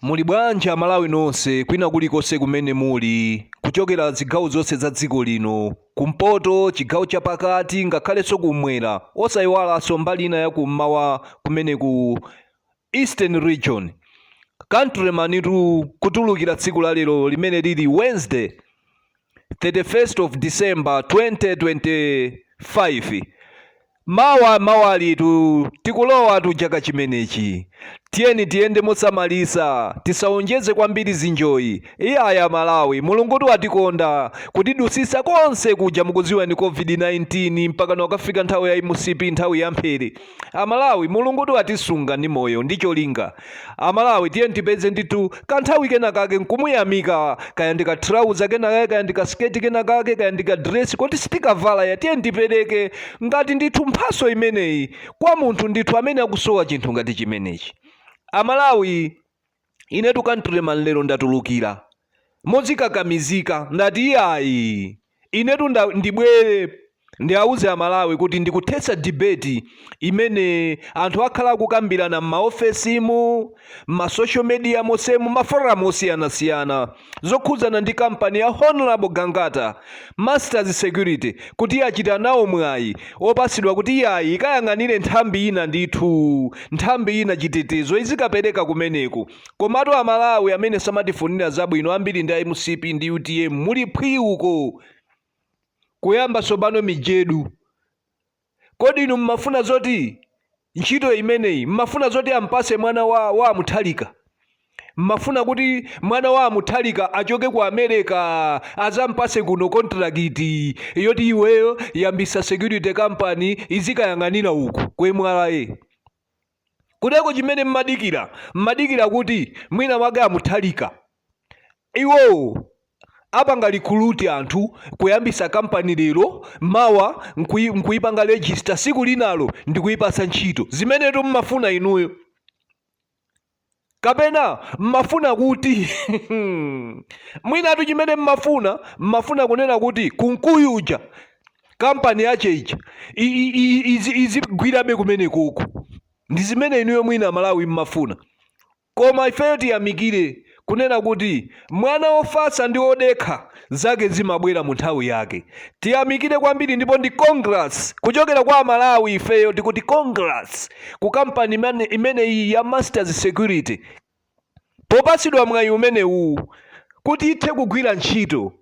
Muli bwanji amalawi nonse kwina kulikonse kumene muli kuchokera zigawo zonse za dziko lino, kumpoto, chigawo chapakati ngakhalenso kummwera osayiwalanso mbali ina ya kummawa kumene ku Eastern region. Countrymantu kutulukira tsiku la lero limene lili Wednesday. 31st of December 2025 mawa mawalitu tikulowa tu chaka chimenechi tiyeni tiyende mosamalisa tisaonjeze kwambiri zinjoyi iyayi amalawi mulungutu watikonda kutidusisa konse kuja mukuziwa za covid-19 mpaka nkukafika nthawi ya mcp nthawi ya mphere Amalawi mulungutu watisunga ndi moyo ndi cholinga. Amalawi tiyeni tipeze ndithu kanthawi kena kake nkumuyamika kaya ndi ka trouser kena kake kaya ndi ka skirt kena kake kaya ndi ka dress koti sitikavala iyayi tiyeni tipereke ngati ndithu mphatso imeneyi kwa munthu ndithu amene akusowa chinthu ngati chimenechi. Amalawi. ine tu Countryman lero ndatulukira modzikakamizika ndati iyayi inetu nda- ndibwere ndiauze amalawi kuti ndikuthetsa debate imene anthu akhala akukambirana m'maofesimu m'masocial media mosemu maforamu osiyanasiyana zokhudzana ndi kampani ya Hon. Gangata Masters Security kuti yachita nawo mwayi opatsidwa kuti yayi ikayang'anire nthambi ina ndithu nthambi ina chitetezo izikapereka kumeneku komatu amalawi amene samatifunira zabwino ambiri ndi a mcp ndi utm muli phwi uko kuyamba tsopano mijedu Kodi inu mmafuna zoti ntchito imeneyi, mmafuna zoti ampase mwana wa amuthalika? Mmafuna kuti mwana wa amuthalika achoke ku America azampase kuno kontrakiti yoti iweyo yambisa security company izikayang'anila uku ku M.R.A? Kodi nchoo chimene mmadikira, mmadikira kuti mwina mwake a Mutharika iwowo apanga recruit anthu kuyambisa company lero, mawa nkuyipanga register siku linalo ndikuyipatsa ntchito. Zimenetu mmafuna inuyo. kapena mmafuna kuti mwinatu chimene mmafuna mmafuna kunena kuti kunkuyu uja kampani yache ija i- i- i- izi- izigwirabe kumeneku ndi zimene inuyo mwina malawi mmafuna koma ifeyo tiyamikire kunena kuti Mwana wofatsa ndi wodekha zake zimabwera mu nthawi yake. Tiyamikire kwambiri ndipo ndi congrats kuchokera kwa Amalawi ifeyo tikuti congrats ku kampani imeneyiyi ya Masters Security popatsidwa mwayi umenewuwu kuti ithe kugwira ntchito.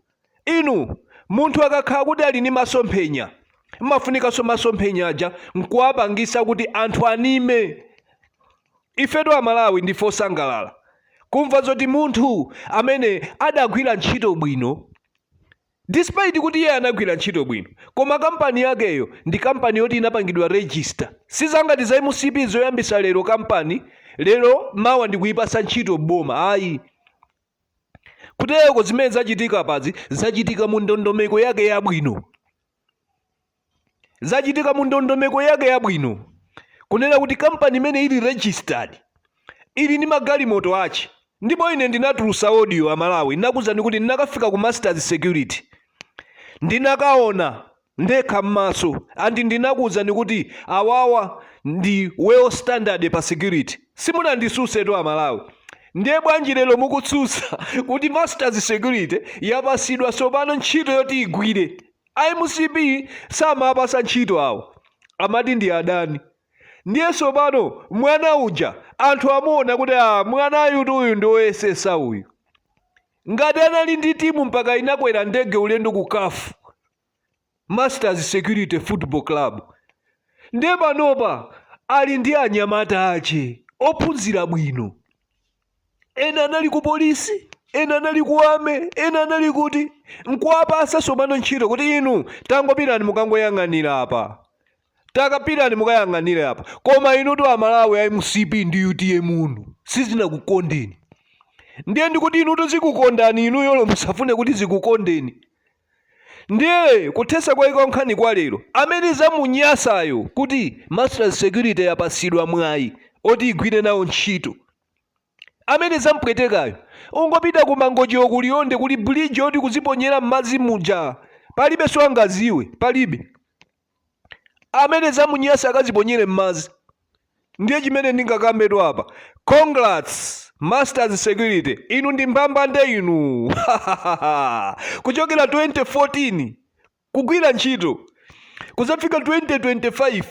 Inu, munthu akakhala kuti ali ndi masomphenya, mmafunikanso masomphenya aja nkuwapangisa kuti anthu anene. Ifetu Amalawi ndife osangalala kumva zoti munthu amene adagwira ntchito bwino despite kuti iye anagwira ntchito bwino koma kampani yakeyo ndi kampani yoti inapangidwa register sizangati za mcp zoyambitsa lero kampani lero mawa ndikuyipasa ntchito boma ayi kutereko zimene zachitika apazi zachitika mu ndondomeko yake yabwino zachitika mu ndondomeko yake yabwino kunena kuti kampani imene ili registered ili ndi magalimoto ache ndipo ine ndinatulusa audio amalawi ndinakuuzani kuti ndinakafika ku masters security ndinakaona ndekha m'maso and ndinakuuzani kuti awawa ndi well standard pa security simunanditsutsetu amalawi ndiye bwanji lero mukutsutsa kuti masters security yapasidwa tsopano ntchito yoti igwire mcp samapasa ntchito awo amati ndi adani ndiye tsopano mwana uja anthu amuona kuti a mwanayutu uyu ndi oyesesa uyu Ngati anali ndi timu mpaka inakwera ndege ulendo ku caf, Masters Security Football Club, nde panopa ali ndi anyamata ache ophunzira bwino. Ena anali ku polisi, ena anali ku army, ena anali kuti. Nkuwapasa sopano ntchito kuti inu tangopitani mukangoyang'anira apa. takapitani mukayang'anire apa koma inutu amalawi a mcp ndi utm unu sizinakukondeni ndiye ndikuti inutu zikukondani inu olo musafune kuti zikukondeni ndiye kuthesa kwake kwa nkhani kwa lero amene zamunyasayo kuti masters security yapasidwa mwayi oti igwire nawo ntchito amene zampwetekayo angopita ku mangochiwo ku liwonde kuli bridge yoti kuziponyera m'madzi muja palibe sangaziwe palibe amene zamunyasa akaziponyere mmadzi ndiye chimene ndingakambetu apa congrats masters security inu ndi mbambande inu kuchokera 2014 kugwira ntchito kuzafika 2025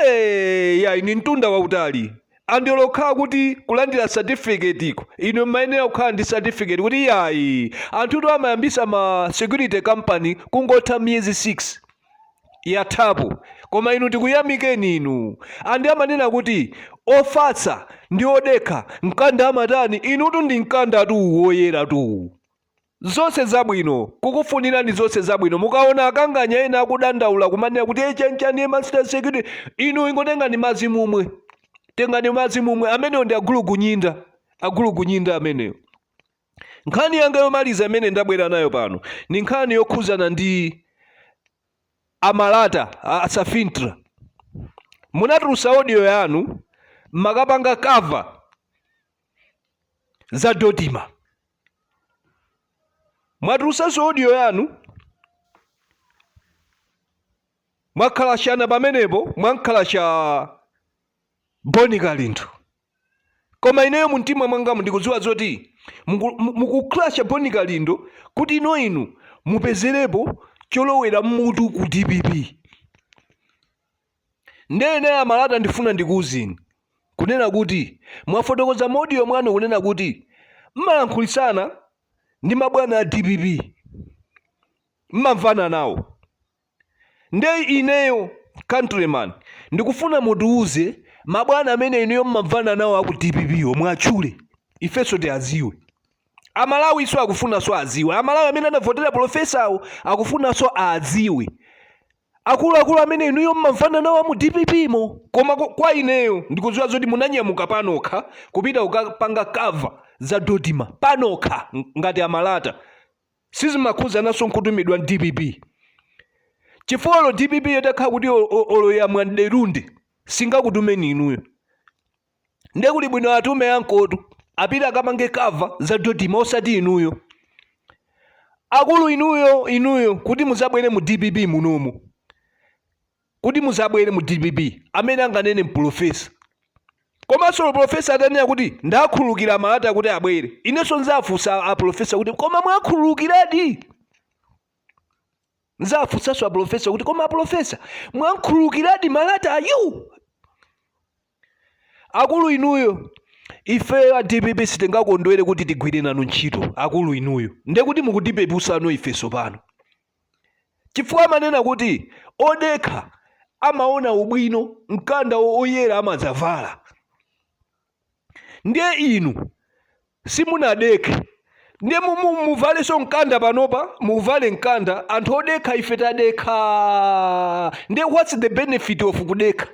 Eeeh yayi ndi mtunda wautali and olo kukhala kuti kulandira certificate-ko inu mmayenera kukhala ndi certificate kuti yayi anthutu amayambisa ma security company kungotha miyezi 6 yathapo koma inu tikuyamikeni inu and amanena kuti ofatsa ndi odekha mkanda amatani inutu ndi mkandatu woyeratu. Zonse zabwino. Kukufunirani zonse zabwino. Mukaona akamganya ena akudandaula kumanena kuti hey, chanchani master security, inu ingotengani madzi mumwe. Tengani madzi mumwe. Amenewo ndi agulugunyinda. Agulugunyinda amenewo. Nkhani yanga yomaliza imene ndabwera nayo pano ni nkhani yokhuzana ndi amalata a Safintra. Munatulusa audio yanu makapanga cover za Dodima. mwatulusanso audio yanu mwakhalashana pamenepo mwankhalasha Boni Kalindo koma ineyo mumtima mwangamu ndikudziwa zoti muku- mu- mukukhalasha Boni Kalindo kuti ino inu mupezerepo cholowera mmutu ku dpp Nde inu amalata ndifuna ndikuuzeni kunena kuti mwafotokoza mu audio mwanu kunena kuti mumalankhulitsana ndi mabwana a dpp mumamvana nawo nde ineyo countryman ndikufuna mutiuze mabwana amene inuyo mumamvana nawo aku dpp wo muwatchule ifenso tiaziwe amalawinso akufunanso aziwe amalawi amene anavotera pulofesawo akufunanso adziwe Akulu akulu amene inuyo mumamvana nawo amu dpp mo. Koma kwa ineyo ndikuziwa zoti munanyamuka panokha kupita kukapanga cover za Dodima panokha ngati a Malata sizimakhuzananso nkutumidwa ndi dpp chifukwa olo dpp yo itakhala kuti olo yamwa mderunde singakutumeni inuyo. ndiye kuli bwino atume ankotu apite akapange cover za dodima osati inuyo akulu inuyo inuyo kuti muzabwere mu dpp munomo kuti muzabwere mu dpp amene anganene mpulofesa komanso profesa atanena kuti ndakhululukira malata kuti abwere inenso nzafunsa aprofesa kuti koma mwakhululukiradi nzafunsanso aprofesa kuti koma aprofesa mwakhululukiradi malata ayu akulu inuyo ifeyo a dpp sitingakondwere kuti tigwire nanu ntchito akulu inuyo nde kuti mukutipeputsano ifeso pano chifukwa amanena kuti odekha amaona ubwino mkanda o- oyera amadzavala ndiye inu simunadekhe ndiye muvaleso mkanda panopa muvale mkanda anthu odekha ife tadekha ndiye what's the benefit of kudekha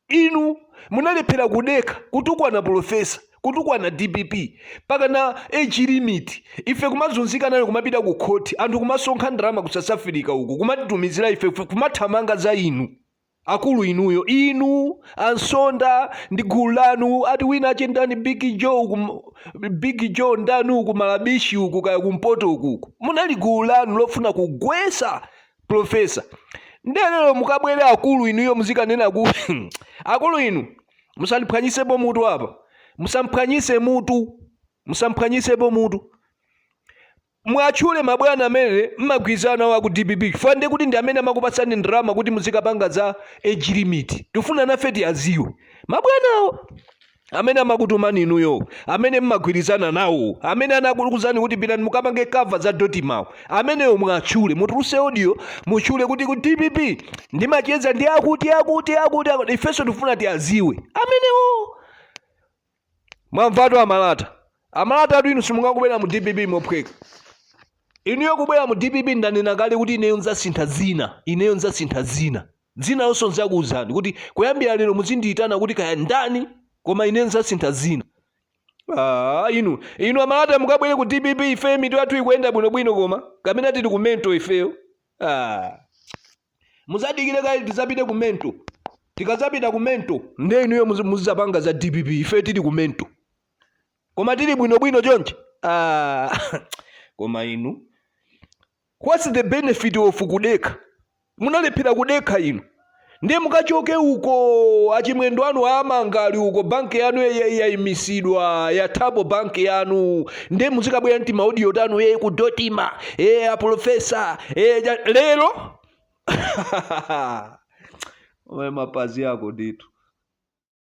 inu munalephera kudekha kutukwana pulofesa kutukwana dpp pakana age limit ife kumazunzika nayo kumapita ku khoti anthu kumasonkha ndalama ku south africa uku kumatitumizira ife kumathamanga za inu Akulu inuyo, inu a Nsonda ndi gulu lanu, ati winawake ndani Big Joe uku, m- Big Joe ndani uku Malabishi uku kaya kumpoto uku uku. Munali gulu lanu lofuna kugwesa profesa. Ndiye lero mukabwere akulu inuyo muzikanena kuti akulu inu musandiphwanyisepo mutu apa. Musamphwanyise mutu. Musamphwanyisepo mutu. Muatchule mabwana amene mmagwirizana nawo aku dpp chifukwa nde kuti ndi amene amakupatsani ndalama kuti muzikapanga za age limit. Tikufuna nafe tiaziwe mabwanawo amene amakutumani inuyoo, amene mmagwirizana nawoo, amene anakuuzani kuti pitani mukapange cover kudotimawo amenewo muatchule. Mutuluse audio mutchule kuti ku dpp ndimacheza ndi akuti akuti akuti akuti. Ifenso tikufuna tiaziwe amenewoo. mwamvatu amalata amalatatu inu simungakabwere mu dpp mophweka inuyo kubwera mu dpp ndanena kale kuti ineyo nzasintha dzina ineyo nzasintha dzina dzina lonso nzakuwuzani kuti kuyambira lero muzindiyitana kuti kaya ndani koma ineyo nzasintha dzina Ah, inu inu amalata mukabwere ku dpp ife mitu yathu ikuyenda bwinobwino koma kamene tili ku mental ifeyo ah. Muzadikile kaye tizapite ku mental tikazapita ku mental nde inuyo muzizapanga za dpp ife tili ku mental koma tili bwino bwino chonchi ah, koma inu what's the benefit of kudekha munalephera kudekha inu ndiye mukachoke uko achimwendo anu aamanga ali uko banki yanu yaimisidwa ya Thabo banki yanu nde muzikabwera ndi timaudio tanu e kudotima e aprofesa e lero iwe mapazi ako ndithu